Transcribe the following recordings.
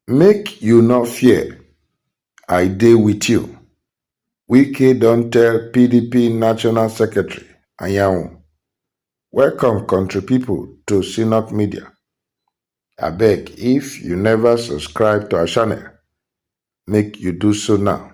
Make you no fear, I dey with you, Wike don tell PDP National Secretary Anyanwu. Welcome country people to Synock Media. Abeg if you never subscribe to our channel, make you do so now.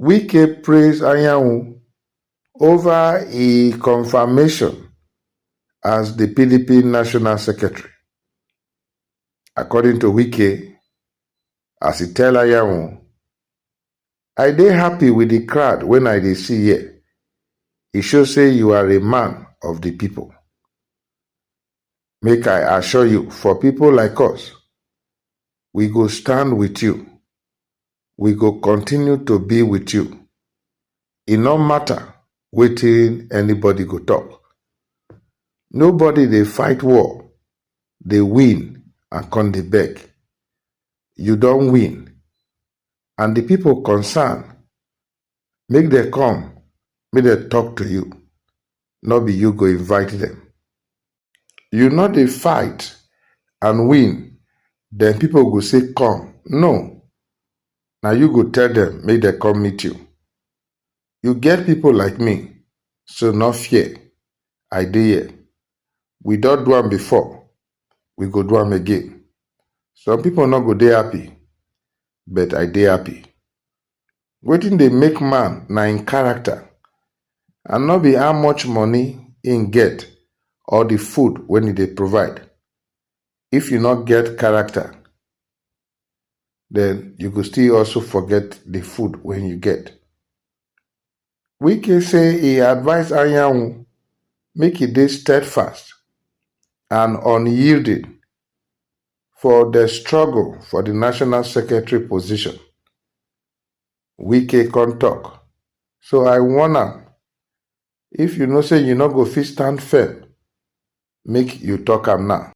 Wike praise Anyanwu over e confirmation as di pdp national secretary. According to Wike, as e tell Anyanwu, I dey happy with di crowd wey I dey see here. E show say you are a man of di pipo. Make I assure you for pipo like us, we go stand with you we go continue to be with you e no matter wetin anybody go talk nobody dey fight war dey win and come dey beg you don win and the people concerned Make dem come, make dem talk to you, no be you go invite dem. You no dey fight and win, then people go say come, no, na you go tell dem make dem come meet you. You get people like me, so no fear, I dey here. We don do am before, we go do am again. Some people no go dey happy, but I dey happy. Wetin dey make man na him character and no be how much money him get or the food wey he dey provide. If you no get character, then you go still also forget the food wey you get. Wike say e advise Anyanwu make e dey steadfast and unyielding for the struggle for the national secretary position. Wike come talk, so I warn am, if you know say you no go fit stand firm, make you talk am now.